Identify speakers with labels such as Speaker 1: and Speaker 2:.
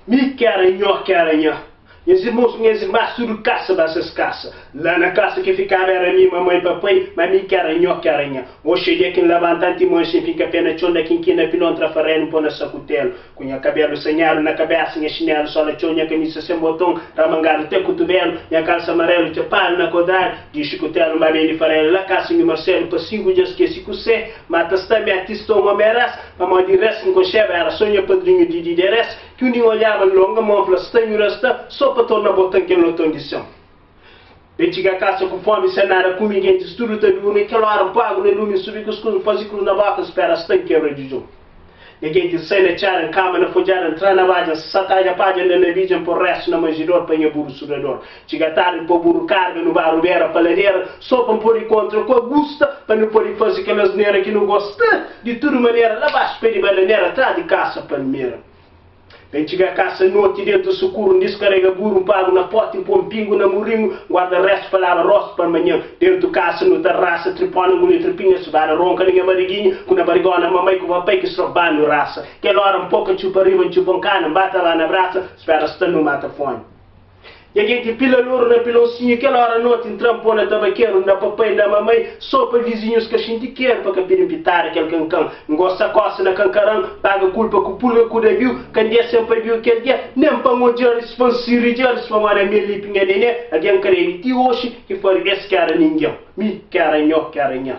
Speaker 1: Mi kera nho kera nha Nhas irmons ku nhas irmas tudu kasa ba ses kasa La na kasa ki fikaba era mi, mamai, papai Ma mi kera nho kera nha Oxa dia ki N labanta antimon Sen finka pé na txon da kinkina Pilon tra farenu N po na saku telu Ku nha kabelu sanhadu na kabesa, nha xinelu sola txeu, nha kamisa sen boton ramangadu te kutubelu, nha kalsa marelu txapadu na kodradu di un xikutelu, ma ben di farelu la kasa nhu marcelu pa sigu dja skese ku se, ma ta sta mi atista un omi res, pamodi res ki nkonxeba era so nha padrinhu di dide res, ki un di nhu olhaba longa, mon fla sta nhu resta so pa torna botan kel loton di son. N txiga kasa ku fómi, sen nada kume, gentis tudu ta durmi. Kel óra N poi agu na lumi, N subi ku skus, N faze krus na bóka, N spera asta N kebra djudjun. Nha gentis, N sai na txéra, N kama na fodjada, N tra na badja, N satadja padja, N da na bidja, N po réstu na manjidor pa nha buru sudador. Txiga tardi, N po buru karga nu ba rubera pa ladera, so pa N pode kontra ku Agusta, pa nu pode faze kel asnera ki nu gosta. Di tudu manera, la baxu pé di bananera, tras di kasa palmera. N txiga kasa noti, dentu sukuru, N diskarega buru, N pagu na poti, N po-m pingu na muringu, N guarda restu pa laba rostu pa manhan. Dentu kasa nu ta rasa tripó na nguli tripinha subada ronka na nha bariginha ku na barigona mamai ku papai ki srop banu rasa. Kel ora N poka txupa riba, N txupa N kana, N bata ba na brasa, N spera sta nu mata fómi. I algen ki pila loru na pilonsinhu kel óra noti N tra-m pô-l na tabakeru N da papai, N da mamai Sô pa vizinhus ka xinti keru Pa ka pidi-m pitada kel kankan N gosta kóse na kankaran Paga kulpa ku pulga ku dabiu Ka N dia sen pabiu kel dia Nen pa N odja-ris pa N sirridja-ris Pa modi ami el li pinha nené Algen kredi ti oxi ki fari es K éra ningen Mi, K éra nho, K éra nha.